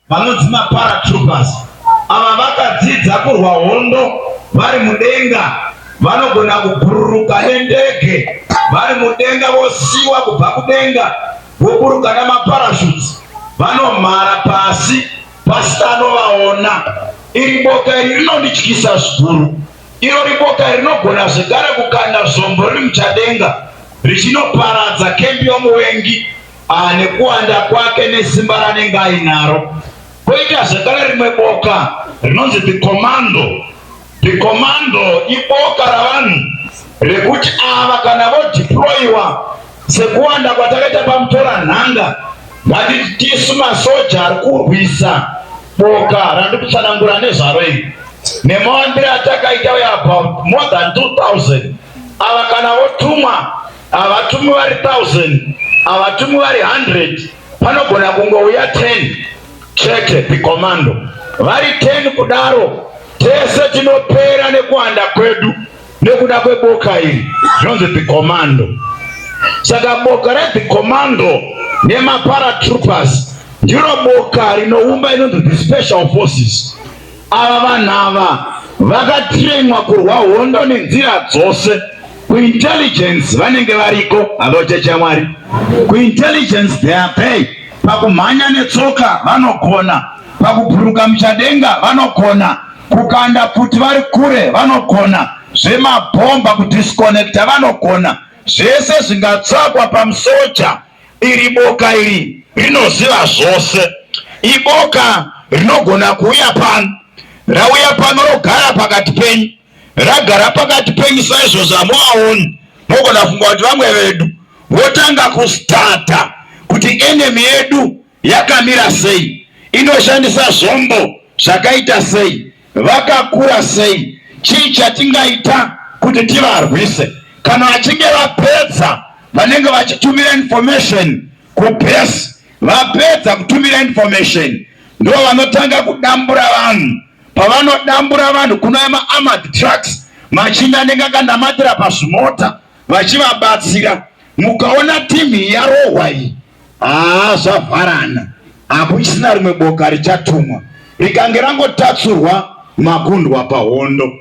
Vanonzi maparatroopers ava vakadzidza kurwa hondo vari mudenga. Vanogona kubhururuka nendege vari mudenga vosiiwa kubva kudenga voburuka namaparachutes vanomhara pasi pasina anovaona. Iri boka iri rinondityisa zvikuru. Irori boka iri rinogona zvekare kukanda zvombo riri muchadenga richinoparadza kembi yomuvengi. ah, nekuwanda kwake nesimba ranenge ainaro. Koita zvekare rimwe boka rinonzi the commando. The commando iboka ravanhu rekuti ava kana vodeployiwa sekuwanda kwatakaita pamutora nhanga ngatiti tisu masoja ari kurwisa boka randikutsanangura nezvaro iri nemawandiro atakaita uya about more than 2000 ava kana votumwa Havatumwi vari 1000, havatumwi vari 100, panogona kungouya 10 chete pikomando. Vari 10 kudaro tese tinopera nekuwanda kwedu nekuda kweboka iri zvinonzi pikomando. Saka boka repikomando nemaparatroopers ndiro boka rinoumba inonzi the special forces Ava vanhu ava vakatrainwa kurwa hondo nenzira dzose kuintelligence vanenge variko havochecha mwari kuintelligence they are pay pakumhanya netsoka vanogona pakuburuka muchadenga vanogona kukanda pfuti vari kure vanogona zvemabhomba kudisconnecta vanogona zvese zvingatsvakwa pamusoja Iri boka iri rinoziva zvose. Iboka rinogona kuuya pano, rauya pano rogara pakati penyu, ragara pakati penyu saizvo zvamuaoni. Mogona funga kuti vamwe vedu votanga kustata kuti enemy yedu yakamira sei, inoshandisa zvombo zvakaita sei, vakakura sei, chii chatingaita kuti tivarwise. Kana vachinge vapedza, vanenge vachitumira information kubase. Vapedza kutumira information, ndivo vanotanga kudambura vanhu. Pavanodambura vanhu, kuno maarmored trucks machinda anenge akanamatira pazvimota vachivabatsira. Mukaona team yarohwa iyi Haa zvavharana, hakuchisina rimwe boka richatumwa, rikange rangotatsurwa makundwa pahondo.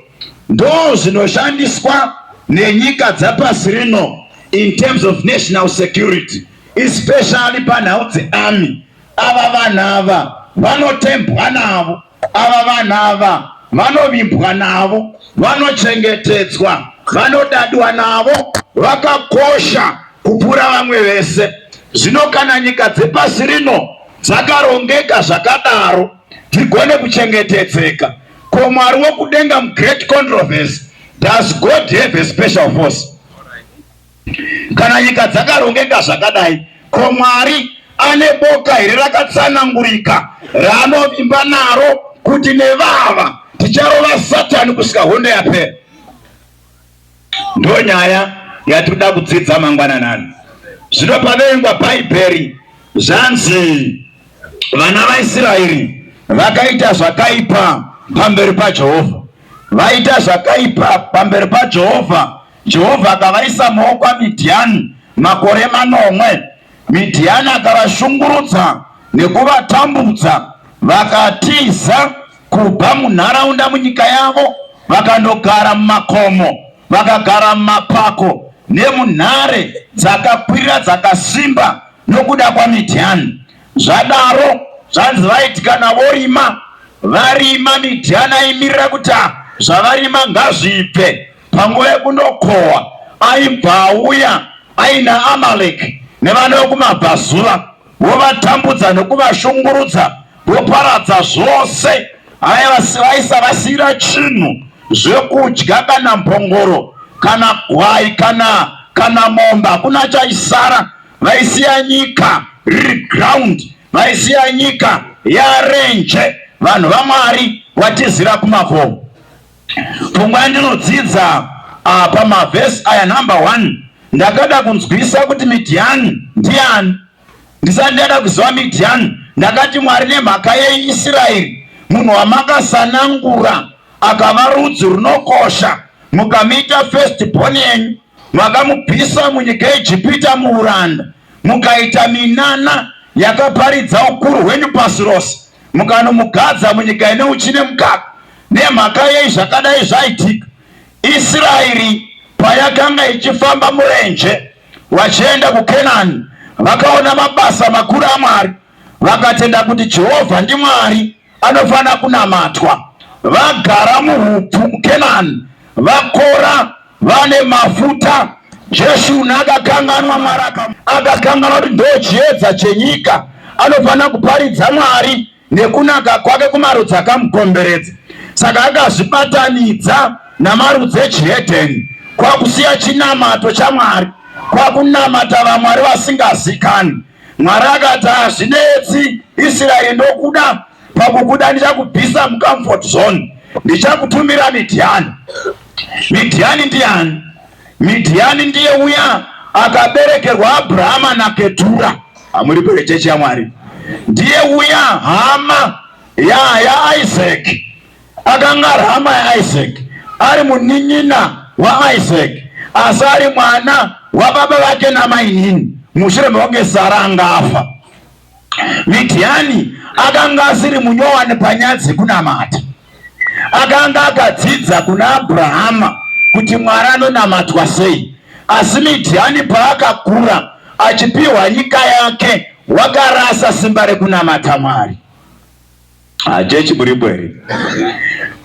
Ndoo zvinoshandiswa nenyika dzapasi rino in terms of national security especially panhau dzearmy. Ava vanhu ava vanotembwa navo. Ava vanhu ava vanovimbwa navo, vanochengetedzwa, vanodadwa navo, vakakosha kupfuura vamwe vese. Zvino kana nyika dzepasi rino dzakarongeka zvakadaro dzigone kuchengetedzeka, ko Mwari wokudenga muGreat Controversy, does God have a special force? Kana nyika dzakarongeka zvakadai, ko Mwari ane boka here rakatsanangurika raanovimba naro kuti nevava ticharova Satani kusvika hondo yapera? Ndo nyaya yatinoda kudzidza mangwananani. Zvino paverengwa Bhaibheri zvanzi vana vaIsraeri vakaita zvakaipa pamberi paJehovha. Vaita zvakaipa pamberi paJehovha Jehovha akavaisa mumaoko aMidhiani makore manomwe. Midhiani akavashungurudza nekuvatambudza, vakatiza kubva munharaunda munyika yavo vakandogara mumakomo, vakagara mumapako nemunhare dzakakwirira dzakasimba nokuda kwaMidhiani. Zvadaro zvanzi vaiti kana vorima varima, Midhiani aimirira kuti zvavarima ngazvibve. Panguva yekunokohwa aibva auya aina Amaleki nevana vekumabvazuva vovatambudza nekuvashungurudza voparadza zvose vaisavasiyira chinhu zvekudya kana mbongoro kana gwai kana kana mombe hakuna chaisara vaisiya nyika riri ground vaisiya nyika yarenje vanhu vamwari watizira kumavomo Pfungwa yandinodzidza apa mavhesi aya number one ndakada kunzwisa kuti midhiyani ndiani ndisati ndada kuziva midhiyani ndakati mwari nemhaka yeisraeri munhu wamakasanangura akava rudzi runokosha mukamuita first born yenyu makamubvisa munyika yejipita muuranda mukaita minana yakaparidza ukuru hwenyu pasi rose mukanomugadza munyika ine uchine mukaka Nemhaka yei zvakadai zvaitika? Isiraeri payakanga ichifamba murenje vachienda kuKenani, vakaona mabasa makuru aMwari, vakatenda kuti Jehovha ndiMwari anofanira kunamatwa. Vagara muhupfu muKenani, vakora, vane mafuta. Jeshuruni akakanganwa Mwari, akakanganwa kuti ndochiedza chenyika, anofanira kuparidza Mwari nekunaka kwake kumarudzi akamukomberedza, saka akazvibatanidza namarudzi echihedheni kwakusiya chinamato chaMwari kwakunamata vamwari vasingazikani. Mwari akati hazvinetsi Israeri, ndokuda pakukuda ndichakubvisa mucomfort zone, ndichakutumira Midhiani. Midhiani ndiani? Midhiani ndiye uya akaberekerwa Abrahama naKetura. Hamuri kure chechi yaMwari. Ndiye uya hama ya yaIsaac akanga ari hama yaIsaac, ari munin'ina waIsaac, asi ari mwana wababa vake namainini mushure mekunge Sara anga afa. Midhiani akanga asiri munyowani panyaya dzekunamata. Akanga akadzidza kuna Abrahama kuti Mwari anonamatwa sei. Asi Midhiani paakakura achipiwa nyika yake, wakarasa simba rekunamata Mwari. Hachechi muripo here?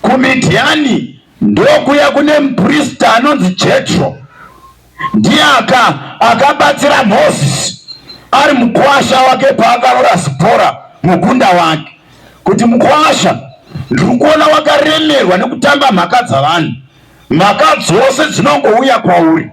KuMidhiani ndokuya kune muprista anonzi Jetro, ndiye aka akabatsira Mozisi ari mukwasha wake paakaroora Zipora mukunda wake, kuti mukwasha, ndiri kuona wakaremerwa nekutamba mhaka dzavanhu, mhaka dzose dzinongouya kwauri,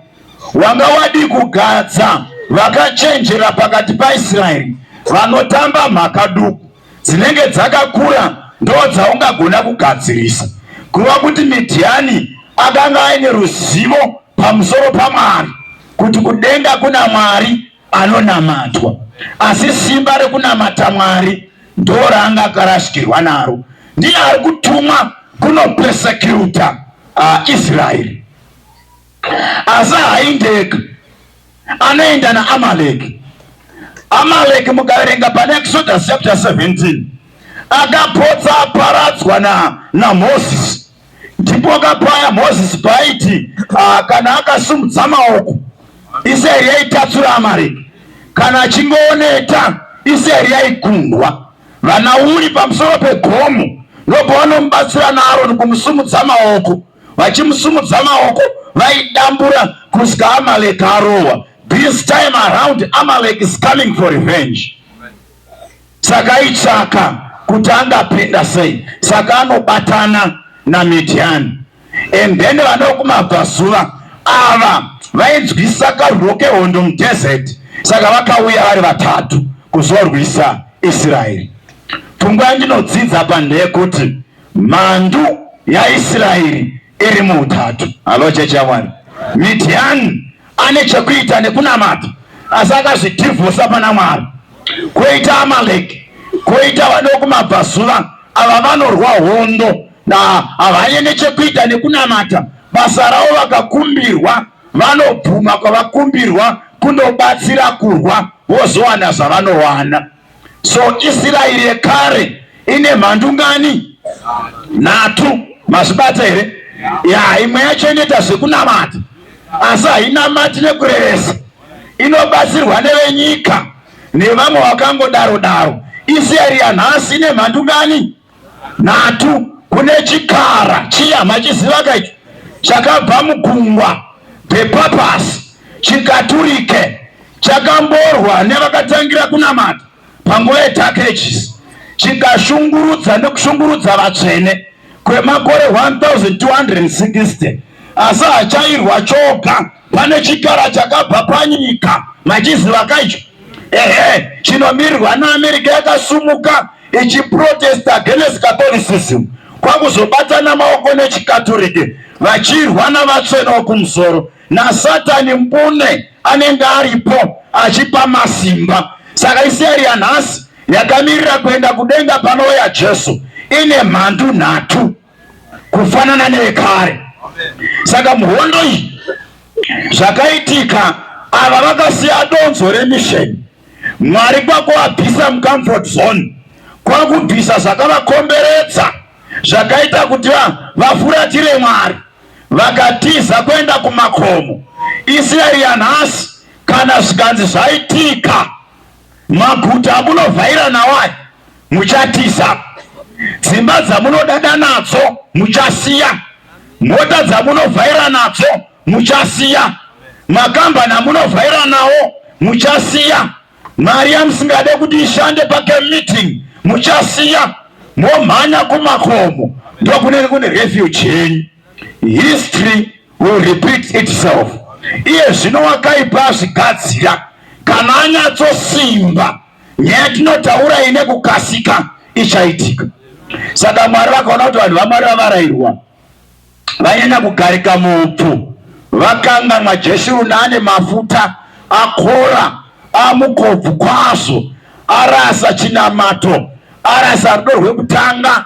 wanga wadii kugadza vakachenjera pakati paIsraeri vanotamba mhaka duku? dzinenge dzakakura ndo dzaungagona kugadzirisa. Kureva kuti Midhiani akanga aine ruzivo pamusoro paMwari, kuti kudenga kuna Mwari anonamatwa, asi simba rekunamata Mwari ndoraanga akarashikirwa naro. Ndiye ari kutumwa kunopesekiuta uh, Israeri. asi haindeka anoenda naamaleki amaleki mukaverenga pane exodus chapter 17 akapotsa aparadzwa na namosisi ndipo kapaya mosisi paaiti ah, kana akasumudza maoko israeri yaitatsura amaleki kana achingooneta israeri yaigundwa vana uri pamusoro pegomo nobva vanomubatsira naaroni kumusumudza maoko vachimusumudza maoko vaidambura kusvika Amalek arohwa. This time around Amalek is coming for revenge. Saka itsvaka kuti angapinda sei, saka anobatana naMidhiani and then vanokumabvazuva ava vainzwisa karwiro kehondo mudhezeti saka vakauya vari vatatu kuzorwisa israeri pfungwa yandinodzidza pandeyekuti Mhandu yaIsraeri iri muutatu. Halo chechi yaMwari. Midhiani ane chekuita nekunamata asi akazvidhivhosa pana Mwari. Koita Amaleki, koita vadokumabvazuva ava vanorwa hondo na havanye nechekuita nekunamata basa ravo vakakumbirwa vanobvuma kwavakumbirwa kunobatsira kurwa vozowana zvavanowana. So Isiraeri yekare ine mhandu ngani? Nhatu. Mazvibata here? Ya, imwe yacho inoita zvekunamata asi hainamati nekurevesa, inobatsirwa nevenyika nevamwe vakangodaro daro. Isiraeri yanhasi ine mhandu ngani? nhatu kune chikara chiya machiziva kaicho chakabva mugungwa bepapasi chikaturike chakamborwa nevakatangira kunamata panguva yedark ages chikashungurudza nekushungurudza vatsvene kwemakore 1260 asi hachairwa choga Pane chikara chakabva panyika machiziva kaicho ehe chinomirwa naamerica yakasumuka ichiprotesta against catholicism kwakuzobatana maoko nechikaturike vachirwa navatsvene wokumusoro nasatani mbune anenge aripo achipa masimba saka iseri yanhasi yakamirira kuenda kudenga panouya jesu ine mhandu nhatu kufanana nevekare. Saka muhondo iyi zvakaitika, ava vakasiya donzo remisheni, Mwari kwakuabvisa mucomfort zone, kwakubvisa zvakavakomberedza zvakaita kuti vafuratire Mwari, vakatiza kuenda kumakomo. Israeri yanhasi kana zvikanzi zvaitika Maguta amunovhaira nawo aya muchatiza, dzimba dzamunodada nadzo muchasiya, mota dzamunovhaira nadzo muchasiya, makambani amunovhaira nawo muchasiya, mari yamusingade kuti ishande pake meeting muchasiya, momhanya kumakomo ndokunenge kune refuge yenyu. History will repeat itself. Iye zvino wakaipa azvigadzira kana anyatsosimba nyaya tinotaura ine kukasika ichaitika. Saka Mwari vakaona kuti vanhu vaMwari vavarairwa vanyanya kugarika muupfu, vakanganwa Jeshuruni ane mafuta akora amukobvu kwazvo, arasa chinamato, arasa rudo rwekutanga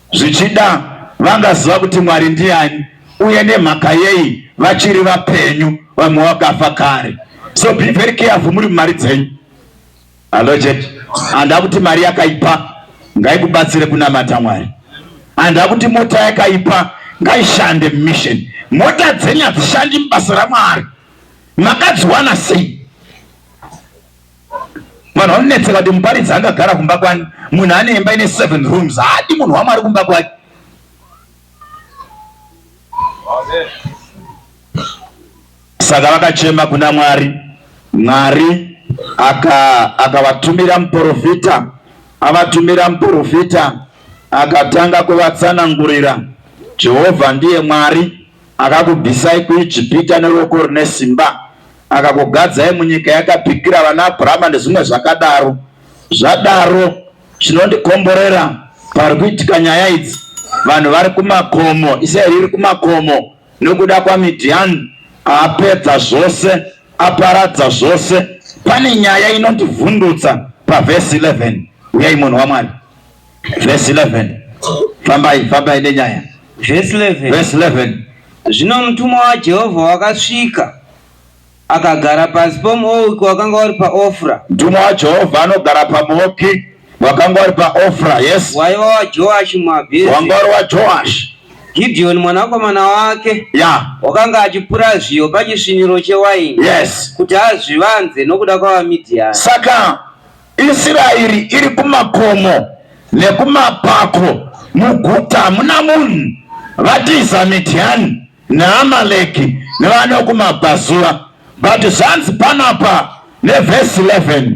Zvichida vangaziva kuti Mwari ndiani uye nemhaka yei vachiri vapenyu vamwe vakafa kare. So be very careful muri mumari dzenyu. Hello church. Handa kuti mari yakaipa ngaikubatsire kunamata Mwari. Handa kuti mota yakaipa ngaishande mission. Mota dzenyu hadzishandi mubasa raMwari. Makadziwana sei? Vanhu vanonetseka kuti muparidzi angagara kumba kwani, munhu ane imba ine seven rooms haadi munhu wamwari kumba kwake. Saka vakachema kuna Mwari, Mwari akavatumira aka muprofita, avatumira muprofita akatanga kuvatsanangurira Jehovha ndiye Mwari Akakubvisai kuIjipita neruoko rune simba, akakugadzai munyika yaakapikira vana Abhurama, nezvimwe zvakadaro. Zvadaro, chinondikomborera pari kuitika nyaya idzi, vanhu vari kumakomo, Israeri iri kumakomo nokuda kwaMidhiani, apedza zvose, aparadza zvose. Pane nyaya inondivhundutsa pavhesi 11. Uyai munhu waMwari. Verse 11. Fambai, fambai nenyaya. Verse 11. Verse 11. Zvino mutumwa waJehovha wakasvika akagara pasi pomuouki wakanga wari paofra mutumwa wajehovha anogara pamuoki wakanga wari paofra yes waiva wajoashi muabheri wanga wari wajoashi Gideon mwanakomana wake yeah. wakanga achipura zviyo pachisviniro chewaini yes. kuti azvivanze nokuda kwavaMidhiani saka Isiraeri iri kumakomo nekumapako, muguta hamuna munhu. Vatiza Midhiani neAmaleki nevane kumabvazuva. But zvanzi panapa nevhesi 11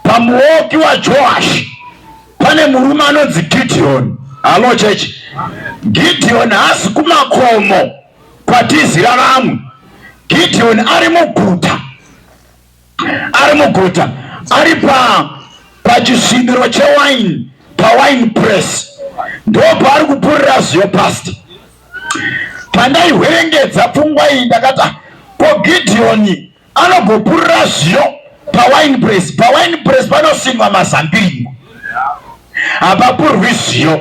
pamuoki waJoashi pane murume anonzi Gideoni. Halo chechi, Gideoni haasi kumakomo kwatizira vamwe. Gideoni ari muguta ari muguta ari pa pachisviniro chewine pawine press ndo paari kupurira ziyo past pandaihwerengedza pfungwa iyi ndakati ah, ko gidhiyoni anogopurira ziyo pawine press pawine press panosimwa mazambiringo hapapurwi ziyo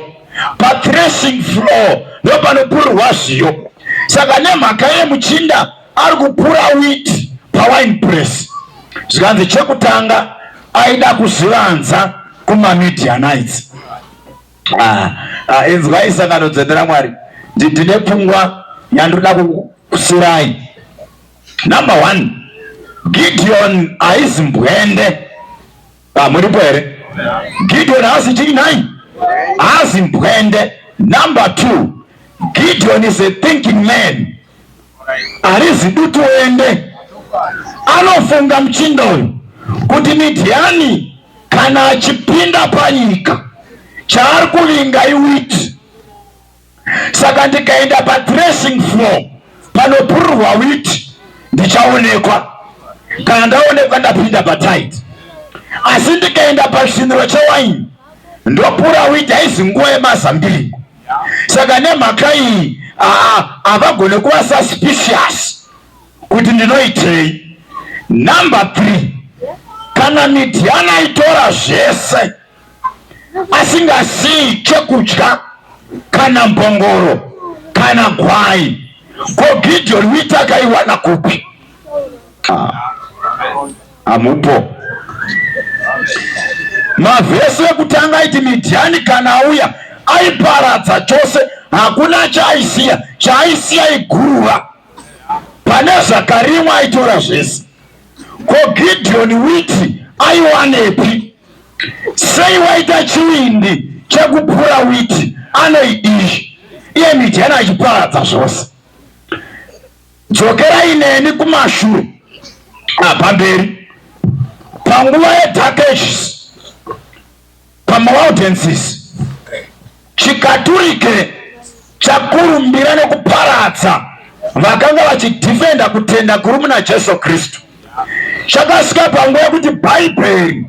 pathreshing floor ndo panopurwa ziyo saka nemhaka yemuchinda ari kupura wheat pawine press zvikanzi chekutanga aida kuzvivanza kumamidianites ah, ah, inzwai sangano dzende ramwari ndine pfungwa yandoda kusirai number one gideon aizimbwende Ah, muripo here? Gideon haasi chii nhai? Haasi mbwende. Number two, Gideon is a thinking man. Harizi dutu ende. Anofunga mchinda uyu kuti Midhiani kana achipinda panyika chaari kuvinga iwiti saka ndikaenda padressing floor panopururwa witi ndichaonekwa kana ndaonekwa ndapinda pataid asi ndikaenda pachiniro chewaini ndopura witi haizi nguva yemazambiringo saka nemhaka iyi havagone kuva suspicious kuti ndinoitei number three kana midhiana itora zvese asingazivi chekudya kana mbongoro kana gwai ko gideon witi akaiwana kupi ah, amupo mavhesi ekutanga aiti midhiani kana auya aiparadza chose hakuna chaaisiya chaaisiya iguruva pane zvakarimwa aitora zvese ko gideon witi aiwanepi Sei waita chivindi chekupura witi anoidii iye mijana achiparadza zvose dzokerai neni kumashure apamberi panguva yedark ages pamaudences Chikaturike chakurumbira nekuparadza vakanga vachidhifenda kutenda kuri muna Jesu Kristu. Chakasvika panguva yekuti Bhaibheri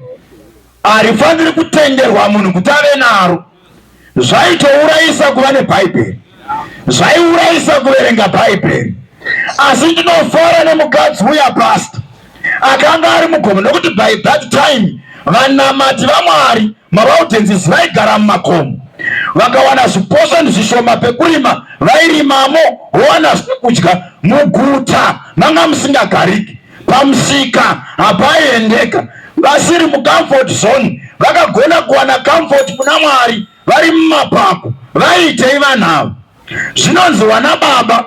harifaniri kutenderwa munhu kuti ave naro. Zvaitourayisa kuva neBhaibheri, zvaiurayisa kuverenga Bhaibheri. Asi ndinofara nemukadzi uya pasta. akanga ari mugomo nokuti by that time vanamati vamwari mavaudhensis vaigara mumakomo vakawana zviposani zvishoma pekurima vairimamo vowana zvekudya muguta manga musingagariki pamusika hapaiendeka vasiri mucomfort zone vakagona kuwana comfort kuna mwari vari mumapako vaiitei vanhu ava zvinonzi wana baba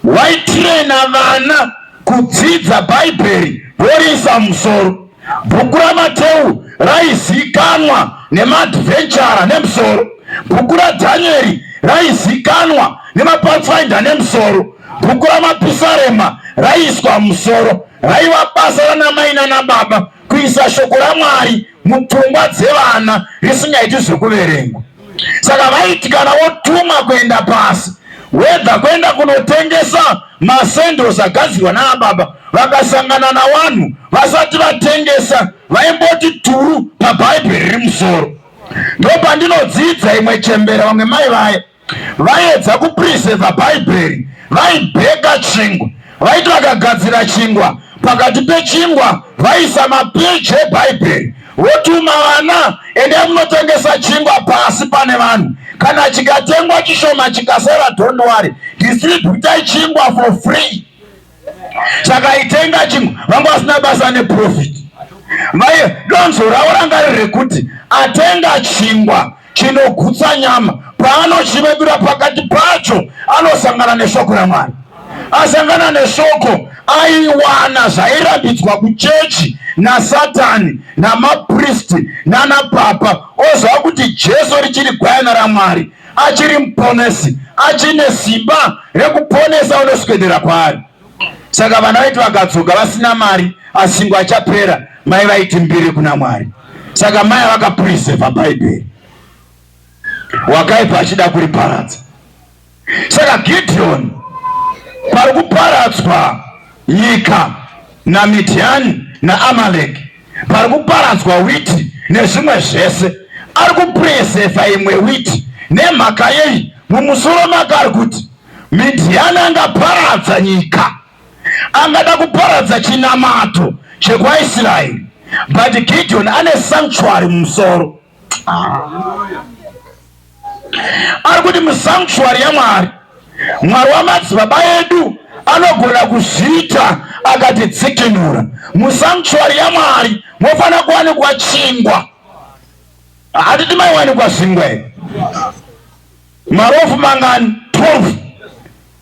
waitirena vana kudzidza bhaibheri voriisa musoro bhuku ramateu raizikanwa nemadvenchara nemusoro bhuku radhanieri raizikanwa nemapathfinder nemusoro bhuku ramapisarema raiiswa musoro raiva basa ranamai nanababa kuisa shoko ramwari mupfungwa dzevana risingaiti zvekuverengwa saka vaiti kana wotuma kuenda pasi wedha kuenda kunotengesa masendros agadzirwa naababa vakasangana nawanhu vasati vatengesa vaimboti turu pabhaibheri rimusoro ndopandinodzidza imwe chembera vamwe mai vaye vaiedza kupreseva bhaibheri vaibheka chingwa vaiti vakagadzira chingwa pakati pechingwa vaisa mapeji ebhaibheri votuma vana ende munotengesa chingwa pasi pane vanhu kana chikatengwa chishoma chikasara dondwari distributai chingwa for free saka itenga chimwe vanga vasina basa neprofit vaye donzo ravo ranga riri rekuti atenga chingwa chinogutsa nyama paanochivebira pakati pacho anosangana neshoko ramwari asangana neshoko aiwana zvairambidzwa kuchechi nasatani namapristi nanapapa oziva kuti jesu richiri gwayana ramwari achiri muponesi achine simba rekuponesa unoswedera kwaari saka vana vaiti vakadzoka vasina mari asingo achapera mai vaiti mbiri kuna mwari saka mai vakapuriseva bhaibheri wakaipa achida kuriparadza saka gideoni pari kuparadzwa Nyika naMidhiani naAmaleki pari kuparadzwa witi nezvimwe zvese, ari kupurezefa imwe witi. Nemhaka yei? Mumusoro make ari kuti Midhiani angaparadza nyika, angada kuparadza chinamato chekwaIsraeri, but Gidhiyoni ane sanctuary mumusoro. ari kuti musanctuary yamwari mwari wamadzibaba edu anogona kuzviita akatidzikinura musanctuary yamwari mofanira kuwanikwa chingwa hatiti maiwanikwa zvingwa here marofu mangani 12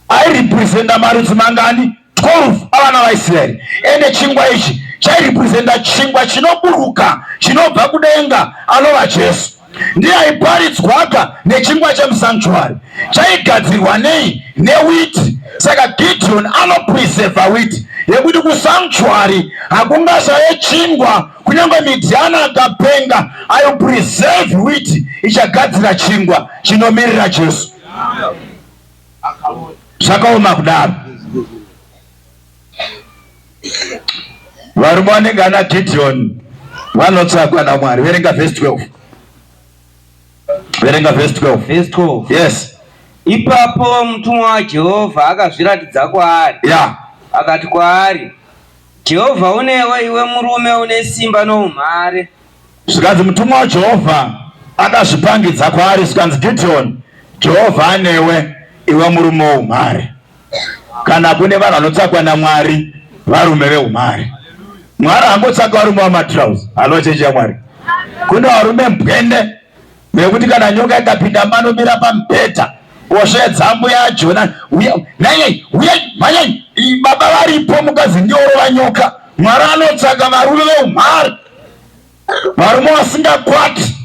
airepresenta marudzi mangani 12 avana vaisraeri ende chingwa ichi chairepresenta chingwa chinoburuka chinobva kudenga anova jesu ndiye aiparidzwaka nechingwa chemusanctuary chaigadzirwa nei newiti saka gideon anopreseva witi yekuti kusanctuary hakungashaye chingwa kunyange midhiana akapenga aipreseve witi ichagadzira chingwa chinomirira jesu Amen. zvakaoma kudaro varume vanenge ana Gideon vanotsvagwa naMwari verenga verse 12 verenga verse 12 verse 12 yes ipapo mutumwa waJehovha akazviratidza kwaari yeah. akati kwaari Jehovha unewe iwe murume une simba noumhare Zvikanzi mutumwa waJehovha akazvipangidza kwaari zvikanzi, Gidheoni, Jehovha anewe, iwe murume woumhare. Kana kune vanhu vanotsvakwa naMwari, varume veumhare. Mwari hangotsvaki varume vamatrouse. Halo chechi yaMwari. Kune varume mbwende yekuti kana nyoka ikapinda manomira pamubhedha osvedza ambuya ajona nanyai uyai mhanyai baba varipo mukadzi ndiorova nyoka mwari anotsvaga varume veumhari varume vasingakwati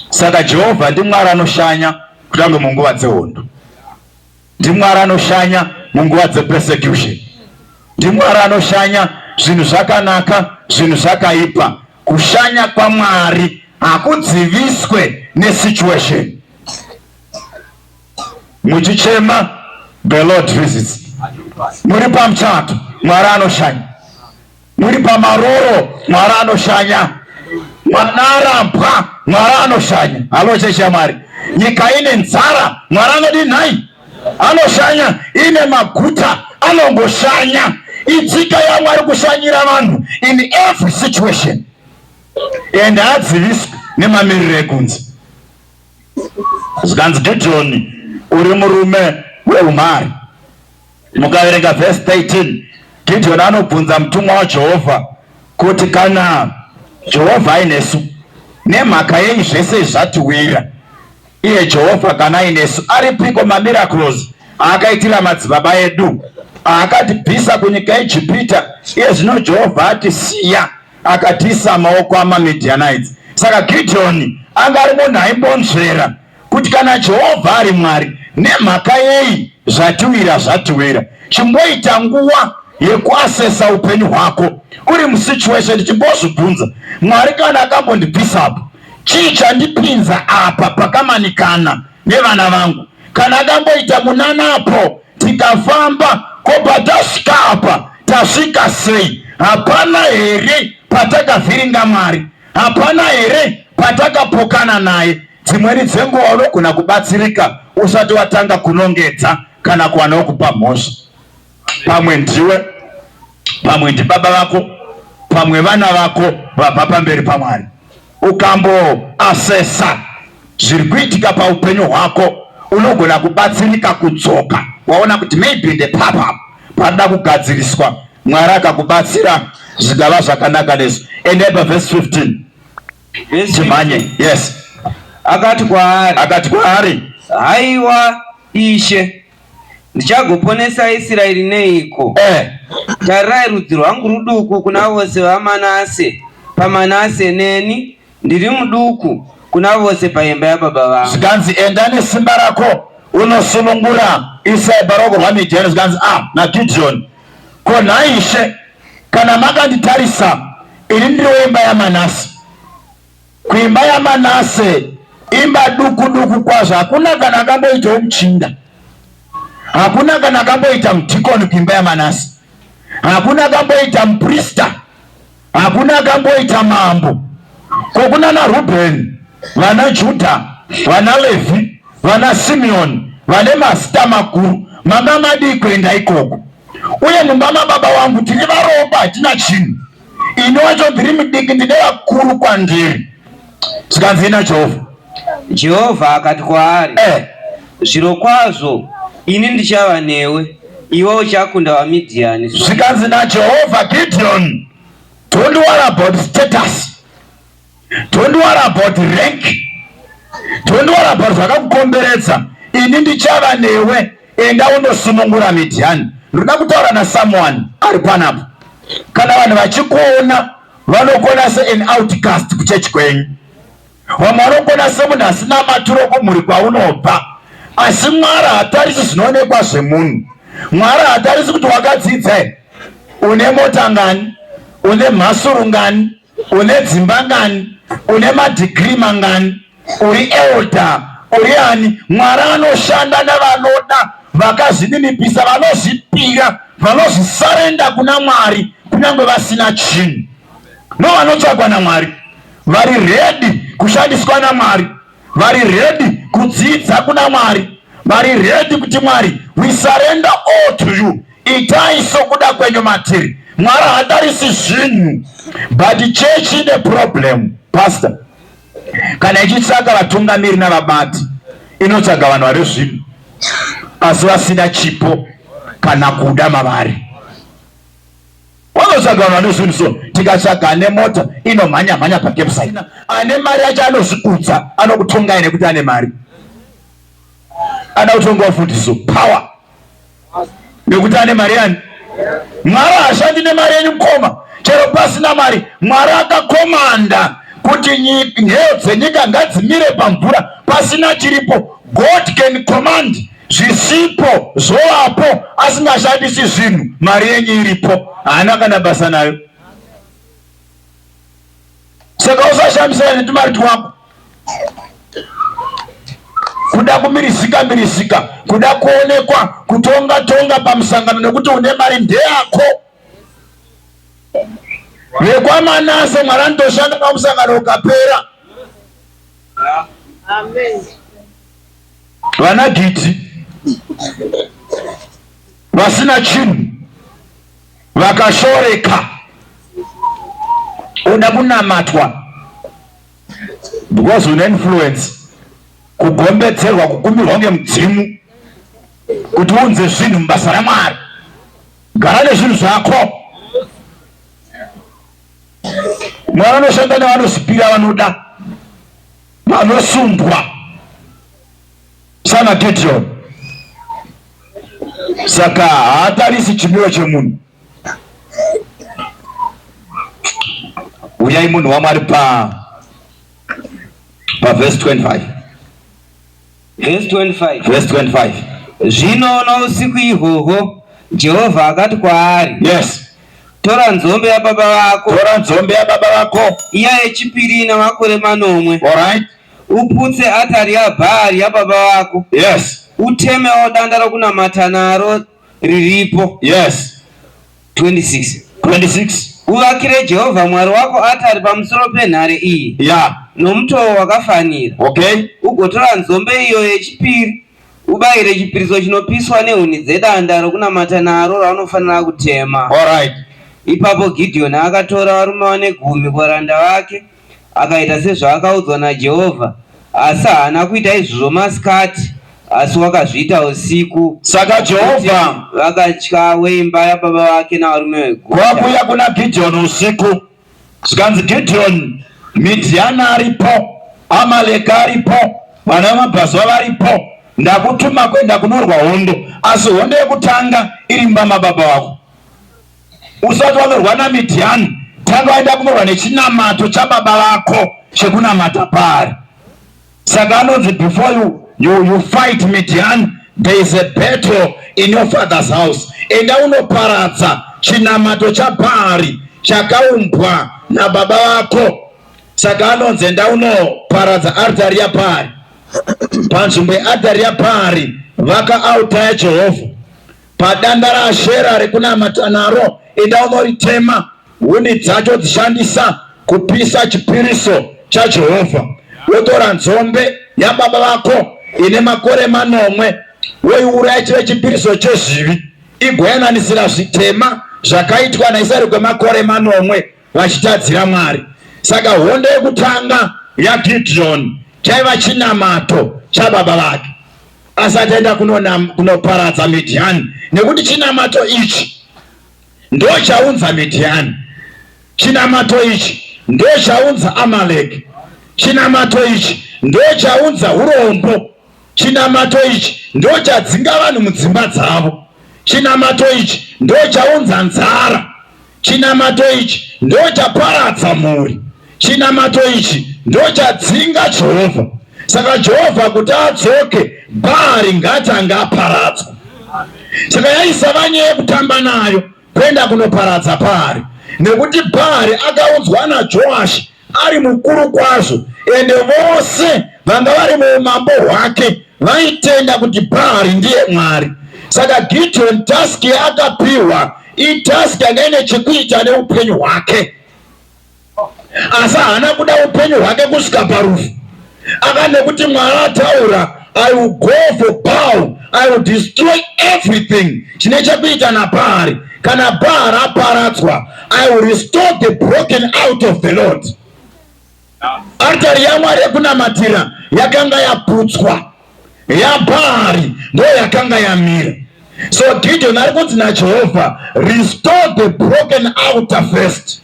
saka jehovha ndimwari anoshanya kutange munguva dzehondo NdiMwari anoshanya munguva dzepersecution. NdiMwari anoshanya zvinhu zvakanaka, zvinhu zvakaipa. Kushanya kwaMwari hakudziviswe nesituation. Muchichema, the Lord visits. Muri pamuchato, Mwari anoshanya. Muri pamaroro Mwari anoshanya. Mwanara mbwa Mwari anoshanya. Halo chechi yaMwari. Nyika ine nzara Mwari anodii nhai? Anoshanya. Ine maguta anongoshanya. Idzika yaMwari kushanyira vanhu in every situation. And haadziviswi nemamiriro ekunze. Zvikanzi Gideoni uri murume weumari. Mukaverenga vhesi 13 Gidhiyoni anobvunza mutumwa waJehovha kuti kana Jehovha ainesu nemhaka yenyu zvese zvatiwira iye Jehovha kana ainesu aripiko mamiracles aakaitira madzibaba edu aakatibvisa kunyika yeEgipita iye zvino Jehovha atisiya akatiisa maoko amaMidianites saka Gidhiyoni anga ari munhu aimbonzvera kuti kana Jehovha ari Mwari, nemhaka yei zvatiwira zvatiwira? Chimboita nguva yekuasesa upenyu hwako uri musituation, chimbozvibvunza, Mwari kana akambondibvisa apo, chii chandipinza apa pakamanikana nevana vangu? Kana akamboita munanapo tikafamba ko patasvika apa tasvika sei? Hapana here patakavhiringa Mwari? Hapana here patakapokana naye? Dzimweni dzenguva unogona kubatsirika usati watanga kunongedza kana kuwana wokupa mhosva. Pamwe ndiwe, pamwe ndibaba vako, pamwe vana vako vabva pamberi paMwari. Ukamboasesa zviri kuitika paupenyu hwako unogona kubatsirika kudzoka waona kuti maybe ndepapa panoda kugadziriswa mwari akakubatsira zvikava zvakanaka nesu eneba vhesi 15 timhanye yes akati kwaari akati kwaari haiwa ishe ndichagoponesa isiraeri neiko eh. tarirai rudzi rwangu ruduku kuna vose vamanase pamanase neni Ndiri muduku kuna vose paimba yababa vangu. Zvikanzi, Enda nesimba rako unosunungura Isai paruoko rwaMidhiani. Zvikanzi, Ah, naGidhioni, ko nhai ishe, kana makanditarisa ini ndiri weimba yaManase, kuimba yaManase imba duku duku kwazvo, hakuna kana akamboitawo muchinda, hakuna kana akamboita mudhikoni kuimba yaManase, hakuna akamboita muprista Hakuna akamboita mambo kokuna naRubheni, vana Judha, vana Levhi, vana Simeoni vane mazita makuru. Mama madii kuenda ikoko? Uye mumba mababa wangu tiri varomba, hatina chinhu. Ini wacho ndiri mudiki, ndine vakuru kwandiri. Zvikanzi naJehovha. Jehovha akati kwaari, eh. Zvirokwazvo ini ndichava newe, iwe uchakunda vaMidhiani. Zvikanzi naJehovha, Gideon, don't worry about status, don't worry about rank, don't worry about zvakakukomberedza, ini ndichava newe, enda unosunungura Midhiani. Ndoda kutaura nasomeone ari panapa, kana vanhu vachikuona Vanokona se an outcast kuchechi kwenyu, vamwe vanokona semunhu asina maturo kumhuri kwaunobva, asi Mwari hatarisi zvinoonekwa zvemunhu. Mwari hatarisi kuti wakadzidza here, une mota ngani, une mhasuru ngani, une dzimba ngani, une madhigiri mangani. Uri elder uri ani? Mwari anoshanda nevanoda vakazvininipisa vanozvipira vanozvisarenda kuna Mwari kunyange vasina chinhu. No vanotsvagwa naMwari vari redi kushandiswa naMwari vari redi kudzidza kuna Mwari vari redi kuti Mwari we surrender all to you itai sokuda kwenyu matiri mwari hatarisi zvinhu but church ine problem pastor kana ichitsvaga vatungamiri navabati inotsvaga vanhu vari zvinhu asi vasina chipo kana kuda mavari wanotsvaga vanhu vane zvinhu so tikatsvaga ane mota inomhanya mhanya pakepsai ane mari yacho anozvikudza anokutongai nekuti ane mari anotonga ufundiso power nekuti ane mari yani mwari hashandi nemari yenyu mukoma chero pasina mari mwari akakomanda kuti nheyo dzenyika ngadzimire pamvura pasina chiripo god can command zvisipo zvovapo asingashandisi zvinhu mari yenyu iripo haana kana basa nayo saka usashamisana netumari twako kuda kumirizika mirizika kuda kuonekwa kutonga tonga pamusangano nekuti une mari ndeyako vekwamanase mwari anotoshanda pamusangano ukapera vana giti vasina chinhu Vakashoreka oda kunamatwa because une influence, kugombedzerwa, kukumbirwa ngemudzimu kuti unze zvinhu mubasa raMwari. Gara nezvinhu zvako. Mwana anoshanda nevanosipira vanoda vanosundwa Sana Gideon saka haatarisi chimiro chemunhu. Uyai munhu waMwari pa pa verse 25 verse 25 verse 25 zvino nousiku ihwohwo Jehovha akati kwaari yes tora nzombe yababa vako tora nzombe yababa vako iya yechipiri ina makore manomwe all right uputse atari yaBhaari yababa vako, yes, utemewo danda rokunamata naro riripo, yes, 26 26 uvakire Jehovha Mwari wako atari pamusoro penhare iyi, yeah, nomutoo wakafanira, okay, ugotora nzombe iyo yechipiri ubayire chipiriso chinopiswa nehuni dzedanda rokunamata naro raunofanira kutema. all right, Ipapo Gidheoni akatora varume vane gumi kuvaranda vake Akaita sezvaakaudzwa naJehovha, asi haana kuita izvozvo masikati, asi wakazviita usiku. Saka Jehovha vakatya weimba yababa vake navarume veguta. Kwakuuya kuna Gidheoni usiku, zvikanzi, Gidheoni, Midhiani aripo, Amaleki aripo, vana vamabvazuva varipo, ndakutuma kuenda kunorwa hondo, asi hondo yekutanga iri mumba mababa vako. Usati wanorwa naMidhiani, tanga waenda kunorwa nechinamato chababa vako chekunamata Bhaari. Saka anonzi before you, you, you fight Midhiani there is a battle in your father's house enda unoparadza chinamato chabhaari chakaumbwa nababa vako saka anonzi enda unoparadza artari yabhaari panzvimbo yeartari yabhaari vaka autaya jehovha Padanda raAshera rekunamata naro, enda unoritema, huni dzacho dzishandisa kupisa chipiriso chaJehovha. Wotora nzombe yababa vako ine makore manomwe, woiuraya chive chipiriso chezvivi, igoyananisira zvitema zvakaitwa naIsraeri kwemakore manomwe. vachitadzira Mwari. Saka hondo yekutanga yaGidhiyoni chaiva chinamato chababa vake asati aenda kunoparadza Midhiyani, nekuti chinamato ichi ndo chaunza Midhiyani, chinamato ichi ndo chaunza Amaleki, chinamato ichi ndo chaunza urombo, chinamato ichi ndo chadzinga vanhu mudzimba dzavo, chinamato ichi ndo chaunza nzara Chinamato ichi ndochaparadza mhuri, chinamato ichi ndochadzinga Jehovha. Saka Jehovha kuti adzoke, Bhaari ngatange aparadzwa. Saka yaisava nyaya yekutamba nayo kuenda kunoparadza Bhaari, nekuti Bhaari akaudzwa naJoashi ari mukuru kwazvo, ende vose vanga vari muumambo hwake vaitenda kuti Bhaari ndiye Mwari. Saka Gideoni task yaakapiwa itask yanga ine chekuita neupenyu hwake, asi haana kuda upenyu hwake kusvika parufu. Aka nekuti Mwari ataura I will go for Baal. I will destroy everything. Chine chekuita naBhaari. Kana Bhaari aparadzwa, I will restore the broken out of the Lord. Artari yaMwari yekunamatira yakanga yaputswa. YaBhaari ndo yakanga yamira. So Gideon ari kunzi naJehovha, restore the broken outer first.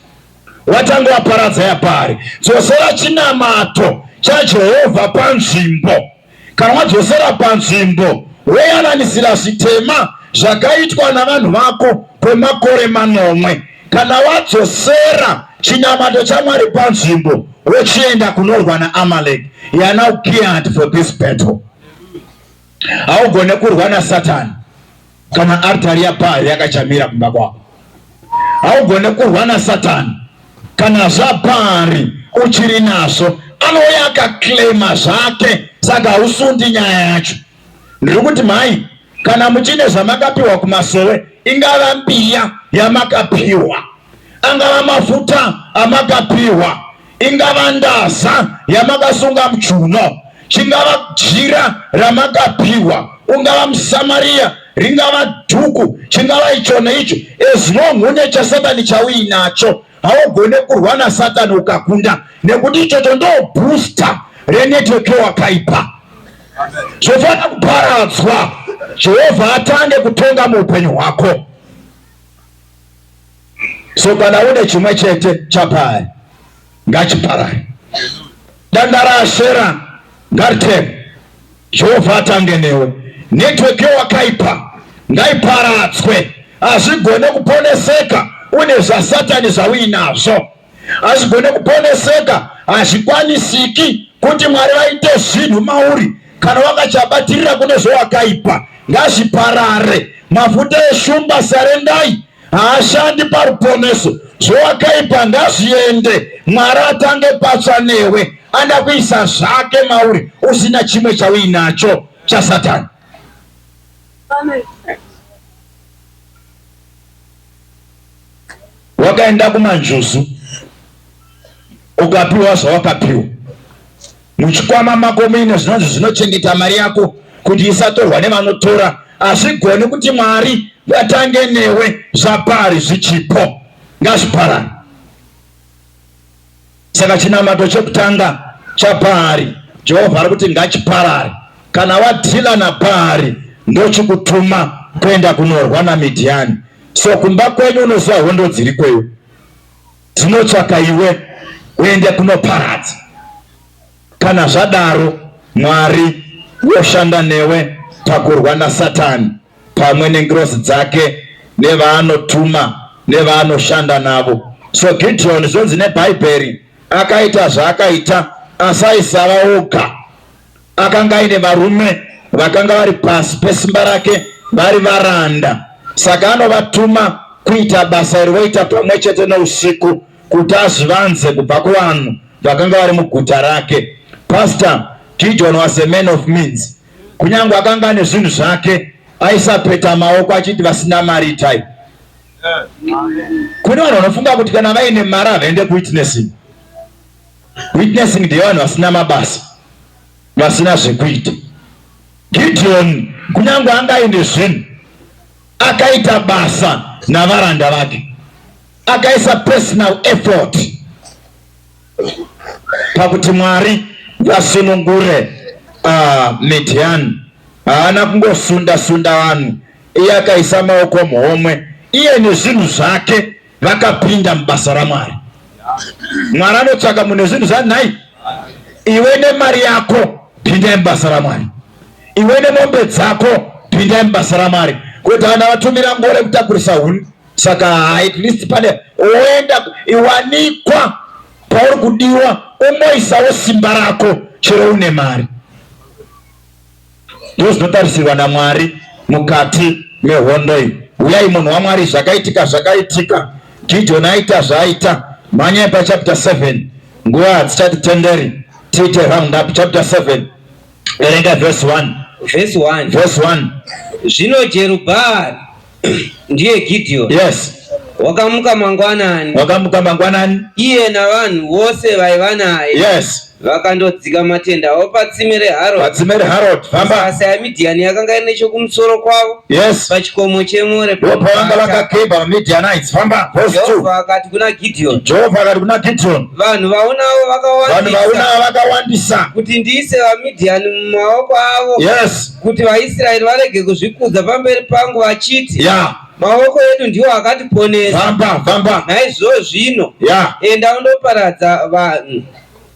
watanga waparadza yaBhaari. Dzosera chinamato chaJehovha panzvimbo. Kana wadzosera panzvimbo, woyananisira zvitema zvakaitwa navanhu vako kwemakore manomwe. Kana wadzosera chinamato chaMwari panzvimbo, wochienda kunorwa naAmalek. You are now geared for this battle. Haugone kurwa naSatani. Kana artari yaBhaari yakachamira kumba kwako, haugone kurwa naSatani. Kana zvaBhaari uchiri nazvo, anouya akaclaima zvake, saka hausundi nyaya yacho. Ndiri kuti mhai, kana muchine zvamakapiwa kumasowe, ingava mbiya yamakapiwa, angava mafuta amakapiwa ingava ndaza yamakasunga muchuno chingava jira ramakapiwa ungava musamariya ringava dhuku chingava icho neicho as long une chasatani chauinacho haugone kurwa nasatani ukakunda nekuti ichocho ndo booster renetwork yowakaipa zvofanira kuparadzwa jehovha atange kutonga muupenyu hwako So kana une chimwe chete chapari ngachiparare. Danda raashera ngariteme. Jehovha atange newe. Network yewakaipa ngaiparadzwe. Hazvigone kuponeseka une zvasatani zvauinazvo. hazvigone kuponeseka hazvikwanisiki kuti mwari vaite zvinhu mauri kana wakachabatirira kune zvowakaipa ngazviparare mafuta eshumba sarendai haashandi paruponeso zvowakaipa ngazviende mwari atange patsva newe anda kuisa zvake mauri usina chimwe chauinacho chasatani Amen. Wakaenda kumanjuzu ukapiwa zvawakapiwa muchikwama mako muine zvinonzi zvinochengeta mari yako kuti isatorwa nevanotora. Hazvigoni kuti Mwari vatange newe zvapari zvichipo ngazviparane. Saka chinamato chekutanga chaBhaari, Jehovha ari kuti ngachiparare. Kana wadhila naBhaari, ndochikutuma kuenda kunorwa naMidhiani. So kumba kwenyu unoziva hondo dziri kweyo dzinotsvaka iwe uende kunoparadza. Kana zvadaro, Mwari woshanda newe pakurwa naSatani pamwe nengirozi dzake nevaanotuma nevaanoshanda navo. So Gideon zvonzi neBhaibheri akaita zvaakaita asi aisava oga. Akanga aine varume vakanga vari pasi pesimba rake vari varanda, saka anovatuma kuita basa iri voita pamwe chete nousiku. kuti azvivanze kubva kuvanhu vakanga vari muguta rake. Pastor Gideon was a man of means. Kunyange akanga ane zvinhu zvake, aisapeta maoko achiti vasina mari type. Kune vanhu vanofunga kuti kana vaine mari havaende kuwitnessing. Witnessing ndeyevanhu vasina mabasa, vasina zvekuita. Gideon kunyange anga aine zvinhu akaita basa navaranda vake. akaisa personal effort pakuti Mwari vasunungure uh, Midian. Haana kungosunda sunda vanhu, iye akaisa maoko muhomwe, iye nezvinhu zvake vakapinda mubasa raMwari. Mwari anotsvaka munhu nezvinhu zvanhai, iwe nemari yako pindai mubasa raMwari, iwe nemombe dzako pindai mubasa raMwari, kuti vana vatumira ngore kutakurisa huni Saka at least pane oenda iwanikwa pauri kudiwa, umboisawo simba rako chero une mari. Ndizvo zvinotarisirwa naMwari mukati mehondo iyi. Uyai munhu waMwari, zvakaitika zvakaitika, Gideoni aita zvaaita. Mhanyai pachapter 7 nguva hadzichati tenderi tiite round up chapter 7 verenga verse 1 verse 1 verse 1 zvino jerubhaari ndiye Gideoni. Yes. Wakamuka mangwanani. Wakamuka mangwanani. Iye navanhu vose vaiva naye. Yes. Vakandodzika matenda avo patsime reHarod. Patsime reHarod. Famba. Asi yaMidhiani yakanga iri nechokumusoro kwavo. Yes. Pachikomo cheMore. Ndopavanga vakakeba vaMidhianites. Famba. Verse 2. Jehovha akati kuna Gideoni. Jehovha akati kuna Gideoni. Vanhu vaonawo vakawandisa. Vanhu vaonawo vakawandisa. Kuti ndiise vaMidhiani mumaoko avo. Yes. kuti vaIsraeri varege kuzvikudza pamberi pangu vachiti, yeah. Maoko edu ndiwo akatiponesa. Famba, famba. Naizvozvo zvino, yeah. enda undoparadza vanhu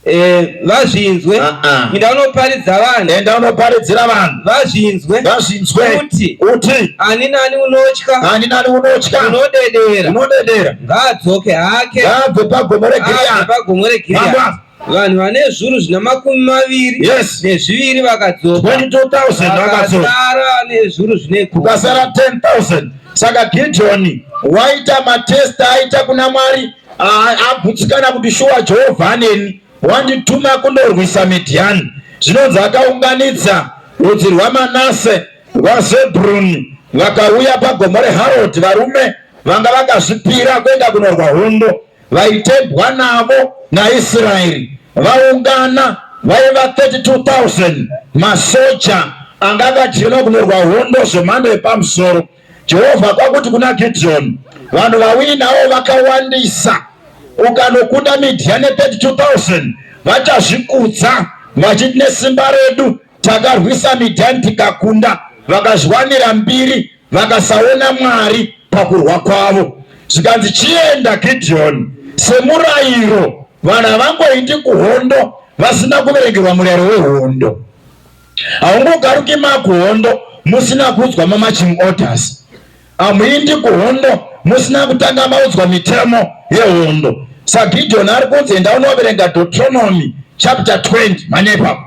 Eh, vazvinzwe uh -uh. inda unoparidza vanhu enda unoparidzira vanhu vazvinzwe vazvinzwe kuti kuti ani nani unotya ani nani unotya unodedera unodedera ngaadzoke hake ngaabve pagomo reGiriadhi pagomo reGiriadhi vanhu vane zviuru zvina makumi maviri yes. nezviviri vakadzoka 22,000 vakadzoka vane zviuru zvine kukasara 10,000 saka gidhoni waita matesta aita kuna mwari abutsikana kuti shuwa jehovha aneni wandituma kundorwisa midhiyani zvinonzi akaunganidza rudzi rwamanase rwazebruni vakauya pagomo reharodi varume vanga vakazvipira kuenda kunorwa hondo Vaitembwa navo naIsraeri vaungana vaiva 32,000 masoja anga akadyelwa kunorwa hondo zvemhando yepamusoro. Jehovha kwakuti kuna Gidhiyoni, vanhu vauinawo vakawandisa, ukanokunda Midhiyani 32,000 vachazvikudza vachiti nesimba redu takarwisa Midhiyani tikakunda. Vakazviwanira mbiri vakasaona Mwari pakurwa kwavo. Zvikanzi, Chienda Gidhiyoni, semurayiro. Vanhu havangoindi kuhondo vasina kuverengerwa murayiro wehondo. Haungogaruki makuhondo musina kuudzwa mamaching orders. Hamuindi kuhondo musina kutanga maudzwa mitemo yehondo. SaGidhiyoni ari kunzi, Enda unoverenga Deuteronomy chapter 20 manepa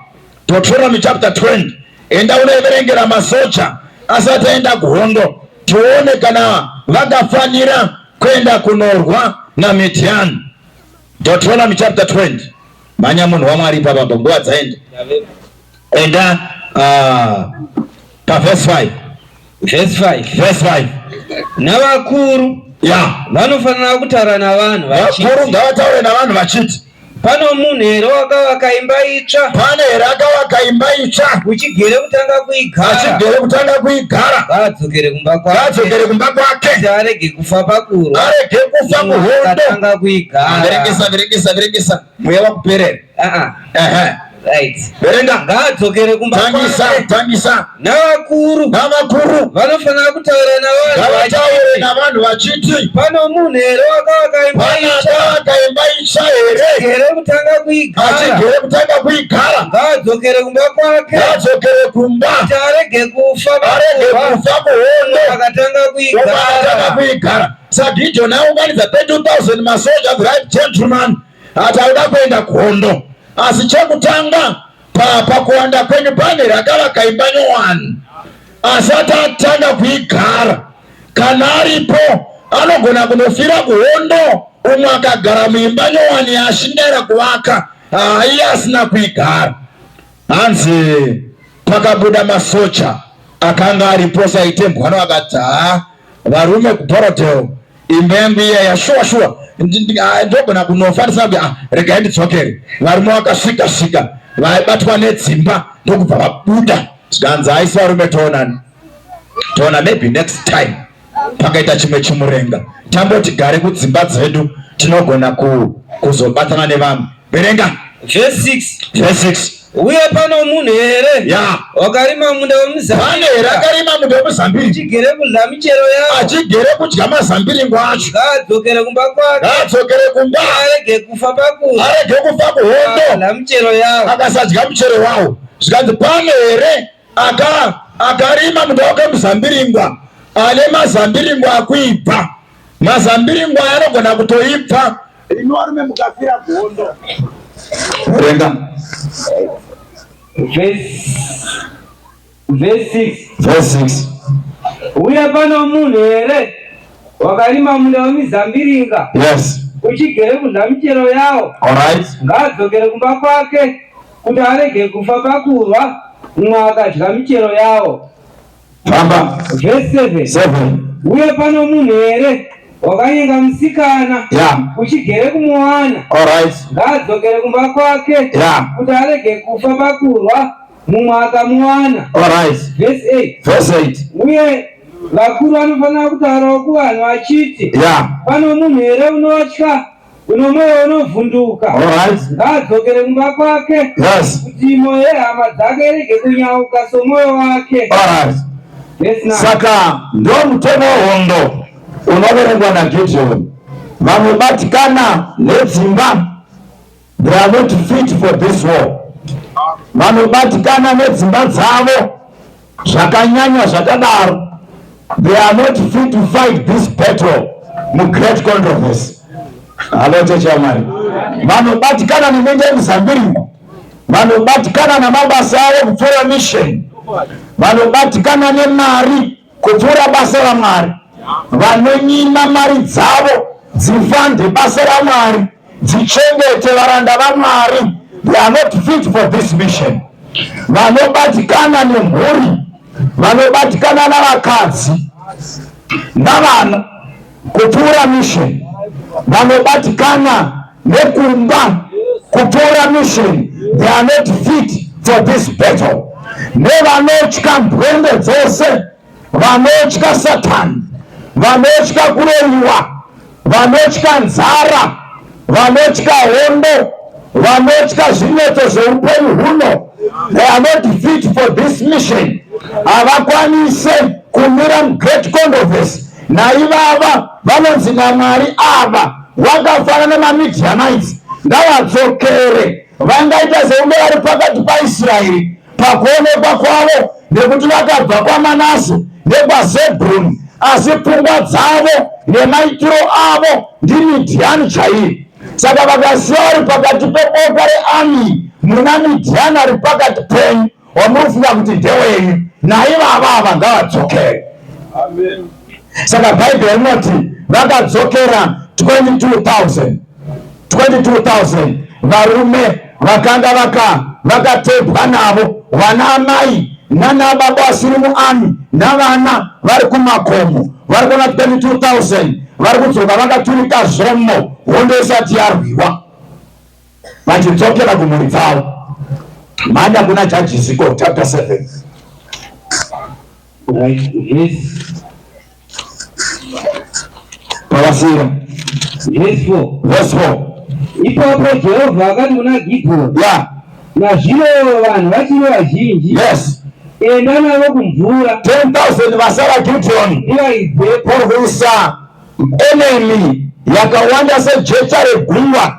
Deuteronomy chapter 20 enda unoverengera masoja asati aenda kuhondo tione kana vakafanira kuenda kunorwa naMidhiani. Deuteronomy chapter 20 manya munhu wamwari ipapa pa nguva dzaenda enda uh, pavhesi 5 Verse 5. Verse 5. Navakuru Yeah. vanofanira kutaura navanhu Vakuru vachiti ngavataure navanhu vachiti pano munhu here wakavaka imba itsva pane here akavaka imba itsva uchigere kutanga kuigara achigere kutanga kuigara ngaadzokere kumba kwake ngaadzokere kumba kwake kuti arege kufa pakurwa arege kufa muhondo akatanga kuigara verekesa verekesa verekesa mweya wakuperera ah, ah. Verenga. Ngaadzokere kumba kwake. Tangisa, tangisa. Navakuru. Navakuru. Vanofanira kutaura navanhu. Ngavataure navanhu vachiti. Pano munhu here wakavaka imba itsva. Pana akavaka imba itsva here. Achigere kutanga kuigara. Achigere kutanga kuigara. Ngaadzokere kumba kwake. Ngaadzokere kumba. Kuti arege kufa. Arege kufa kuhondo. Akatanga kuigara. Akatanga kuigara. sagideon aunganidza 32000 masoja the right gentleman ati auda kuenda kuhondo asi chekutanga pakuwanda kwenyu pane rakavaka imba nyowani asati atanga kuigara kana aripo anogona kunofira kuhondo umwe akagara muimba nyowani yaashingaira kuvaka haiye asina kuigara Hanzi pakabuda masocha akanga aripo saitembwa noakati haa varume kuBorrowdale imba yangu iya yashuwa shuwa ah, ndogona kunofa ndisabi ah, regai ndidzokere varume vakasvika svika vaibatwa nedzimba ndokubva vabuda zvikanzi haisi varume toonani toona maybe next time pakaita chimwe chimurenga tamboti gare kudzimba dzedu tinogona ku, kuzobatana nevamwe verenga verse 6 verse 6 uye pano munhu here ya wakarima munda wemuzambiringa here akarima munda wemuzambiringa achigere kudya michero yawo achigere kudya mazambiringo acho ngaadzokere kumba kwake ngaadzokere kumba arege kufa paku arege kufa kuhondo akadya michero yawo akasadya michero wawo zvikanzi pano here Aka akarima munda wake muzambiringwa ane mazambiringwa akuibva mazambiringo aya anogona kutoibva inorume mukafira gondo renga uye pano munhu here wakarima munda wemizambiringa yes uchigere kudla michero yawo right ngaadzokere kumba kwake kuti arege kufa pakurwa mumwe akadya michero yawo. Famba. Verse 7. 7. Uye pano munhu here wakanyenga musikana yeah. uchigere kumuwana right. ngaadzokere kumba kwake yeah. kuti arege kufa pakurwa mumwe akamuwana right. Verse 8. Verse 8. uye vakuru vanofanira kutaurawo kuvanhu vachiti yeah. pano munhu here unotya Kuno mweya unovhunduka ngaadzokere kumba kwake kuti moyo yehama dzake irege kunyauka somoyo wake. Saka ndo mutemo hondo unoverengwa naGideoni. Vamwe batikana nedzimba, they are not fit for this war. Vanobatikana nedzimba dzavo Zvakanyanya zvakadaro, they are not fit to fight this battle mu great controversy. Halo cheche yamari vanobatikana nemende yemuzambiringo vanobatikana namabasa avo kupfuura mission vanobatikana nemari kupfuura basa ramwari vanonyima mari dzavo dzifande basa ramwari dzichengete varanda vaMwari they are not fit for this mission vanobatikana nemhuri vanobatikana navakadzi navana kupfuura mission vanobatikana nekumba kupfuura mission they are not fit for this battle nevanotya mbwende dzose vanotya satani vanotya kuroyiwa vanotya nzara vanotya hondo vanotya zvinetso zveupenyu huno they are not fit for this mission havakwanise kumira mugreat condoves naivava vanonzi namwari ava vakafanana nemamidianites ngavadzokere vangaita sekunge vari pakati paisraeri pakuonekwa kwavo nekuti vakabva kwamanase nekwazebhuruni asi pfungwa dzavo nemaitiro avo ndimidhiyani chaiyo saka vakasiya vari pakati peboka reami muna midhiyani ari pakati penyu wamunofunga kuti ndewenyu naivava ava ngavadzokere saka bhaibheri rinoti vakadzokera 22000 22,000 varume vakanga vaka vakatebwa navo vana amai nana baba vasiri muami navana vari kumakomo vari kuona 22000 vari kudzoka vakaturika zvomo hondo isati yarwiwa vachidzokera kumhuri dzavo manda kuna jajisiko chapter 7 right, yes. Pavasiya. Verse 4. Verse 4. Ipapo Jehovha akati kuna Gidheoni. Yeah. Nazvino vanhu vachiri vazhinji. Yes. Enda navo kumvura. 10,000 vasara Gidheoni. Ivaidze. Kurwisa enemy yakawanda sejecha regungwa.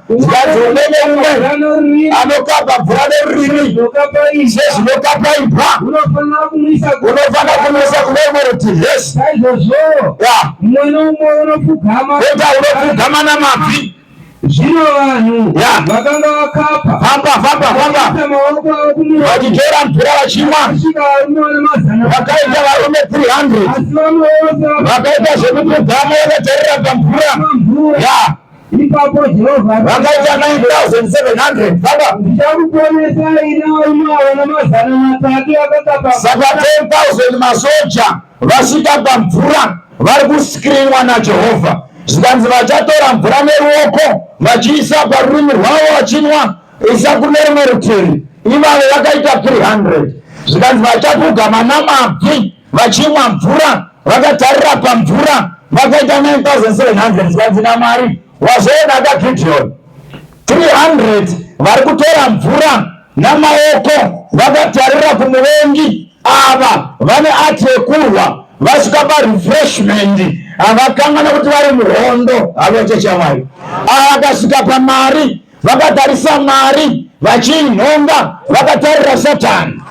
zikazi umwe neumwe anokapa mvura nerurimi sezvinokapa imbwa unofanira kumisa kune rumwe rutivi yes kota unopfugama namabvi zvino vanhu vakanga vakapa famba famba famba maoko avo kumwe vachitora mvura vachimwa vakaita varume 300 vakaita zvekupfugama vakatarira pamvura ya Ipapo Jehovha vakaita 9700 baba, ndichakuponesai nawo mawa namazana matatu akakapa. Saka 10000 masoja vasvika pamvura vari kuskrinwa naJehovha, zvikanzi vachatora mvura neruoko vachiisa parurimi rwavo vachinwa, isa kune rumwe rutivi. Ivavo vakaita 300 zvikanzi vachapuga manamabvi vachimwa mvura vakatarira pamvura vakaita 9700 zvikanzi namwari wazvoona kagideon 300 vari kutora mvura namaoko vakatarira kumuvengi ava vane ati yekurwa vasvika parefreshment havakan'ana kuti vari muhondo havaita chamwari ava vakasvika pamari vakatarisa mari vachiinhonga vakatarira satani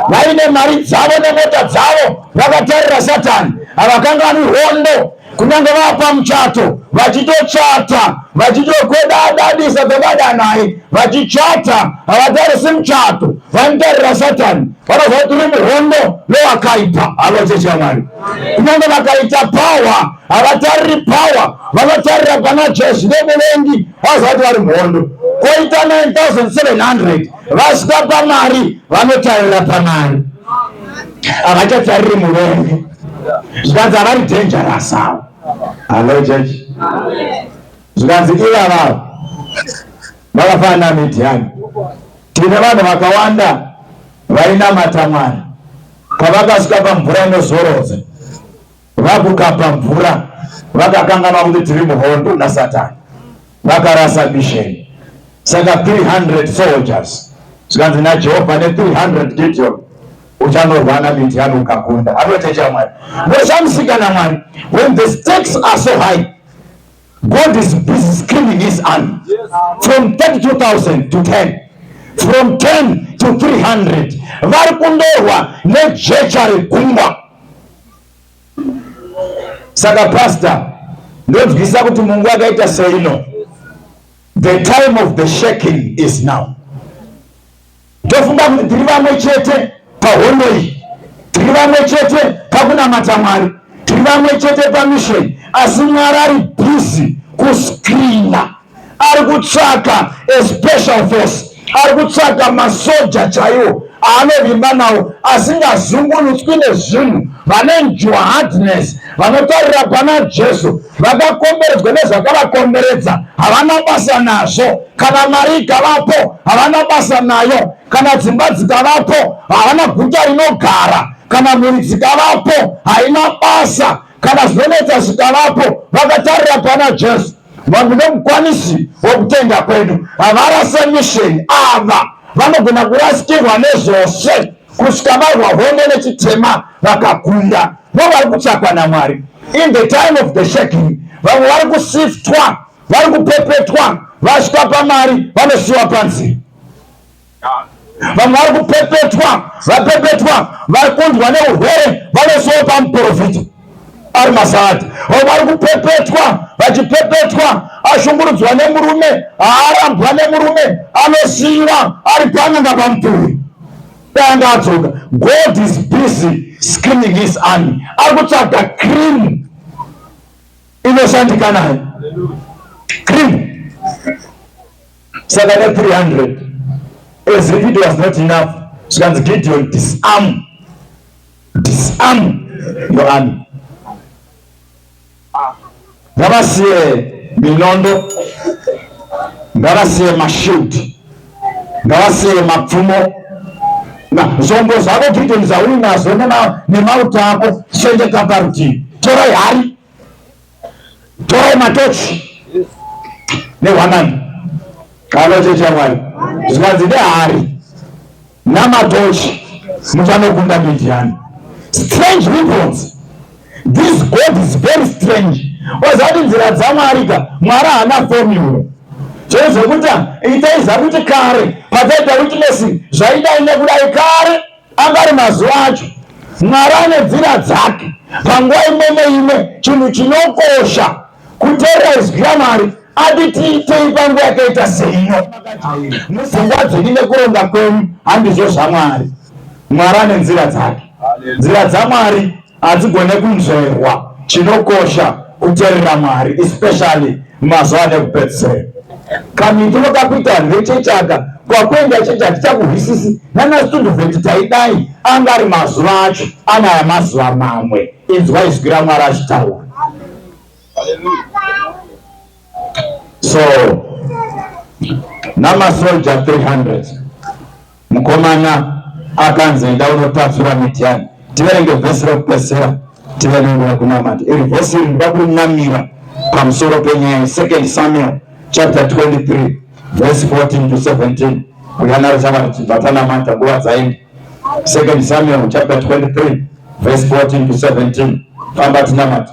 vaine mari dzavo nemota dzavo vakatarira satani havakangani hondo kunyange vapa muchato vachitochata vachitokwedadadisa kwevada naye vachichata havatarisi muchato vanotarira satani vanoziva kuti uri muhondo nowakaipa havachechi yamwari kunyange vakaita pawa havatariri power vanotarira pana jesu nemuvengi vazati vari mhondo koita 9700 vasika pamari vanotarira pamari havachatariri muvengi zvikanzi havari dangerous avo hallo church zvikanzi iva vavo vakafanana midiani tine vanhu vakawanda vainamata mwari pavakasika pamvura inozorodza Vakukapa mvura vakakanganwa kuti tiri muhondo nasatani, vakarasa misheni. Saka 300 soldiers zvikanzi naJehovha ne 300 Gideon uchanorwana Midiani ukakunda. Anoteja Mwari, ndochamusikana Mwari when the stakes are so high God is busy screening his army from 32,000 to 10 from 10 to 300 vari kundorwa nejecha regungwa saka pasta ndonzwisa kuti mungu akaita seino the time of the shaking is now Ndofunga kuti tiri vamwe chete pahondo iyi, tiri vamwe chete pakunamata Mwari, tiri vamwe chete pamisheni, asi Mwari ari bhizi kuscreena, ari kutsvaka a special force, ari kutsvaka masoja chaiwo aanovimba nawo asingazungunutswi nezvinhu vane njuhadness vanotarira pana Jesu vakakomberedzwa nezvakavakomberedza havana basa nazvo kana mari ikavapo havana basa nayo kana dzimba dzikavapo havana guta rinogara kana mhuri dzikavapo haina basa kana zvinonetsa zvikavapo vakatarira pana jesu vanhu vemukwanisi wokutenda kwedu havarase misheni ava vanogona kurasikirwa nezvose kusvika varwa hondo nechitema vakakunda vo vari kutsvakwa namwari in the time of the shaking vamwe vari kusiftwa vari kupepetwa vasvika pamari vanosiyiwa panze vamwe vari kupepetwa vapepetwa vari kunzwa neurwere vanosiyiwa pamuprofita ari masati vamwe vari kupepetwa vachipepetwa ashungurudzwa nemurume haarambwa nemurume anosiyiwa ari pananga pamuturi danga adzoka god is busy screening his army ari kutsvaga cream inoshandika nayo cream saka ne 300 as if it was not enough zvikanzi gideon disarm disarm your army ngavasiye minondo ngavasiye mashield ngavasiye mapfumo zvombo zvako gideon zvauinazvo nemauto ako sendeka parutivi torai hari torai matochi nehwanani kanochecha mwari zvikanzi nehari namatochi muchanokunda midiani strange weapons This God is very strange. Wazati nzira dzaMwari ka, Mwari haana formula. Chero zvekuti itai zvakuti kare pakaita witness zvaidai nekudai kare anga ari mazuva acho. Mwari ane nzira dzake. Panguva imwe neimwe chinhu chinokosha kuteerera izwi raMwari ati tiitei panguva yakaita seino. Musingwa dzenyu nekuronga kwenyu handizvo zvaMwari. Mwari ane nzira dzake. Nzira dzaMwari hadzigone kunzverwa chinokosha kuterera mwari especially mazuva nekupedzisira kamitiro kakuita vanhu vechechaka kwakuenda chechi hatichakuhwisisi nanasitunduvheti taidai anga ari mazuva acho anaya mazuva mamwe inzwa izwi ramwari achitaura so namasoldier 300 Mukomana akanzi enda unotapfira Midhiani. Tiverenge vhesi rekupedzisira tive nenguva yekunamata. Iri vhesi iri ndida kunamira pamusoro penyaya Second Samuel chapter 23 verse 14 to 17 kuyanaro chava tichibva tanamata nguva dzaenda. Second Samuel chapter 23 verse 14 to 17 famba tinamata.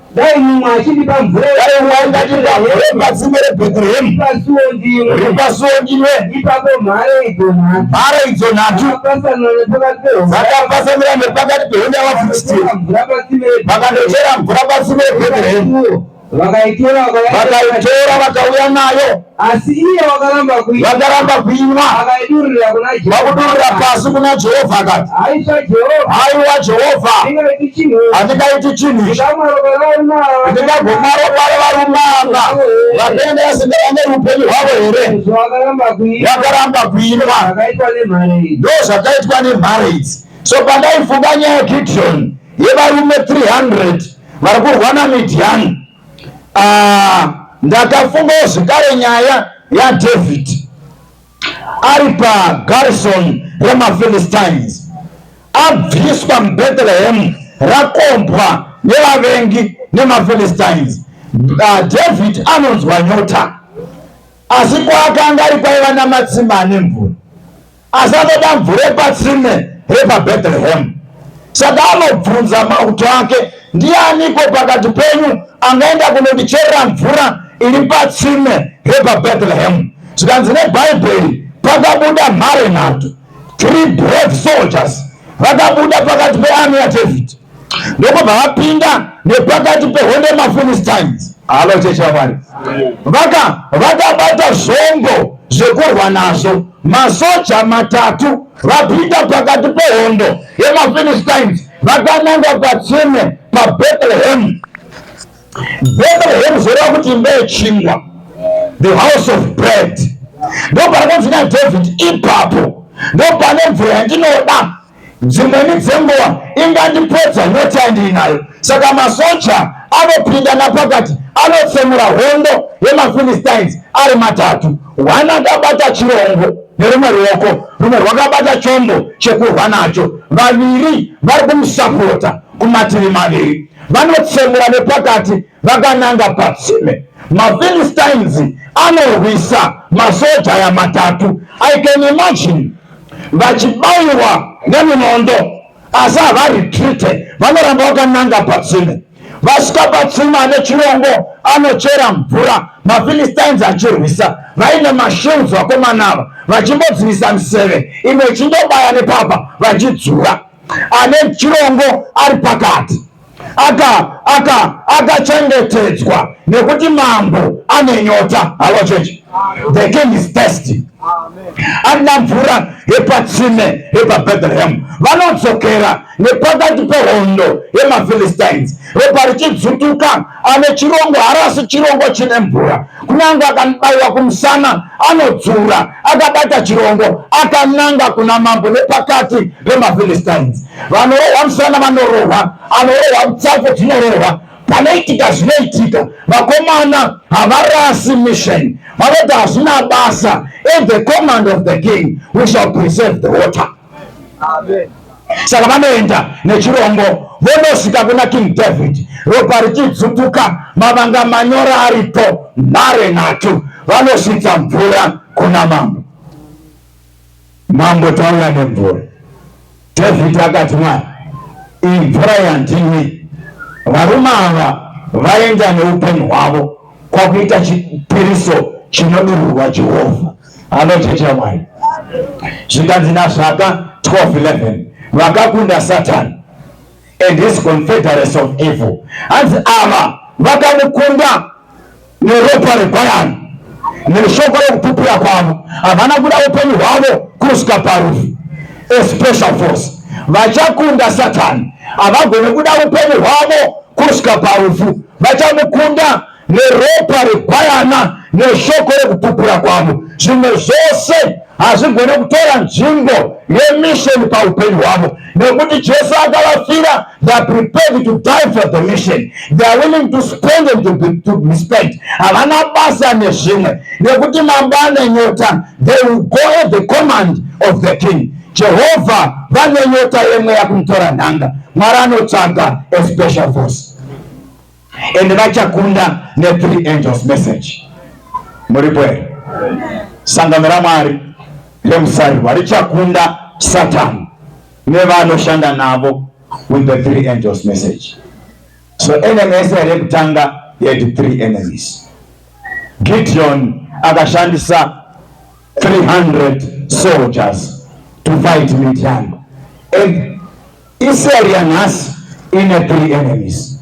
Dai mumwe achindipa mvura dai mumwe achindipa mvura patsime reBethlehem pasuo ndimwe ripasuo ndimwe ipapo mhare idzo nhatu mhare idzo nhatu dzakapasanira nepakati pehonda yavafilisiti vakandochera mvura patsime reBethlehem vakaitora vakauya nayo asi iye wakaramba kuinwa vakaramba kuinwa akaidurira kuna Jehovha vakudurira pasi kuna Jehovha akati aisha Jehovha haiwa Jehovha ndingaiti chinhu handingaiti chinhu ichi ndingagomaro kware varumanga vakaenda vasindava neupenyu hwavo here vakaramba kuinwa ndozvakaitwa nemhare idzi so pandaifunga nyaya yegidhiyoni yevarume 300 vari kurwa namidhiyani Ah, ndakafungawo zvekare nyaya yadhavhidhi ari pagarisoni remafilistines abviswa mubethlehemu rakombwa nevavengi nemafilistines ah, dhavhidhi anonzwa nyota asi kwaakanga ari kwaiva namatsimba ane mvura Asi anoda mvura yepatsime repabethlehemu saka anobvunza mauto ake ndianiko pakati penyu angaenda kunondicherera mvura iri patsime repabethlehemu zvikanzi nebhaibheri pakabuda mhare nhatu three brave soldiers vakabuda pakati pearmy yadavid ndokubva vapinda nepakati pehondo yemafilistines halo chechi yamwari vaka vakabata zvombo zvekurwa nazvo masoja matatu vapinda pakati pehondo yemafilistines vakananga patsime pabethlehem bethlehem zvoreva kuti imba yechingwa the house of bread ndoparakanzi nadhavhidhi ipapo ndopane mvura yandinoda dzimweni dzenguva ingandipedza nyota yandiinayo saka masoja anopinda napakati anotsemura hondo yemafilistines ari matatu one akabata chirongo nerumwe ruoko rumwe rwakabata chombo chekurwa nacho vaviri vari kumusapota kumativi maviri vanotsemura nepakati vakananga patsime mafilistines anorwisa masoja aya matatu i can imagine vachibaiwa neminondo asi havaretrite vanoramba vakananga patsime vasvika patsime ane chirongo anochera mvura mafilistines achirwisa vaine mashields vakomana ava vachimbodzivisa miseve imwe ichindobaya nepapa vachidzura ane chirongo ari pakati aka aka akachengetedzwa nekuti mambo ane nyota halo chechi the king is thirsty ana mvura yepatsime yepabethlehem vanodzokera nepakati pehondo yemaphilistines ropa richidzutuka ane chirongo harasi chirongo chine mvura kunyange akanibaiwa kumusana anodzura akabata chirongo akananga kuna mambo nepakati pemaphilistines vanorohwa musana vanorohwa anorohwa mutsako dzinorohwa panoitika zvinoitika vakomana havarasi mission vanoti hazvina basa in the command of the king we shall preserve the water Amen. saka vanoenda nechirongo vonosvika kuna king david ropa richidzutuka mavanga manyora aripo nhare nhatu vanosvitsa mvura kuna mambo Mambo tauya nemvura. David akati mwana, iyi mvura yandinwi. Varume ava vaenda neupenyu hwavo kwakuita chipiriso chinodururwa Jehovha. Anochecha mwari. Zvikanzi naZvaka 12:11 vakakunda Satani and his confederates of evil. Hanzi ava vakamukunda neropa reGwayana neshoko rekupupura kwavo havana kuda upenyu hwavo kusvika parufu especial force vachakunda satani havagone kuda upenyu hwavo kusvika parufu vachamukunda neropa reGwayana neshoko rekupupura kwavo zvimwe zvose hazvigone kutora nzvimbo yemisheni paupenyu hwavo nekuti jesu akavafira theyare prepared to die for the mission theyare willing to spend and to be, to be spent havana basa nezvimwe nekuti mambane nyota they will go at the command of the king jehovha vane nyota yemweya kumutora nhanga mwari anotsvaga a special force and vachakunda ne three angels message. Muripo here? Sangano raMwari remusarirwa richakunda Satan nevanoshanda navo with the three angels message. So enemy yese yekutanga yaiti three enemies. Gideon akashandisa 300 soldiers to fight Midian. And Israel yanhasi ine three enemies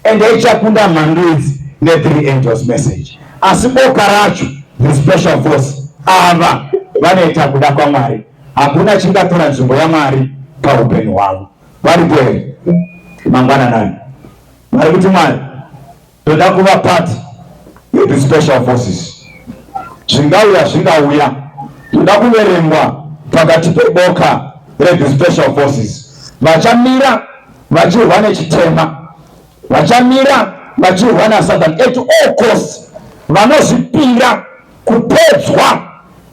and ichakunda mhandu idzi ne three angels message asi boka racho the special force ava vanoita kuda kwamwari hakuna chingatora nzvimbo yamwari paupenyu hwavo varipo here mangwananani vari kuti mwari Toda kuva part yeti special forces. Zvingauya zvingauya, toda kuverengwa pakati peboka reti special forces. Vachamira vachirwa nechitema, vachamira vachirwa naSatan at all costs, vanozvipira Kupedzwa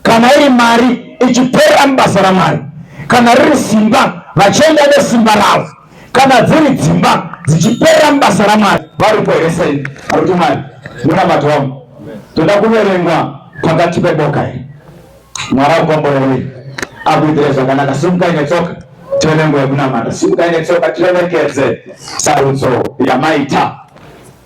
kana iri mari ichiperera mubasa raMwari, kana riri simba vachienda nesimba ravo, kana dziri dzimba dzichiperera mubasa raMwari. Varipo here sei varikuti Mwari munamato wangu toda kuverengwa pakati peboka iri? Mwari akukomborerei, akuitire zvakanaka. Simukai netsoka tione nguva yekunamata. Simukai netsoka tiremekedze sarudzo yamaita.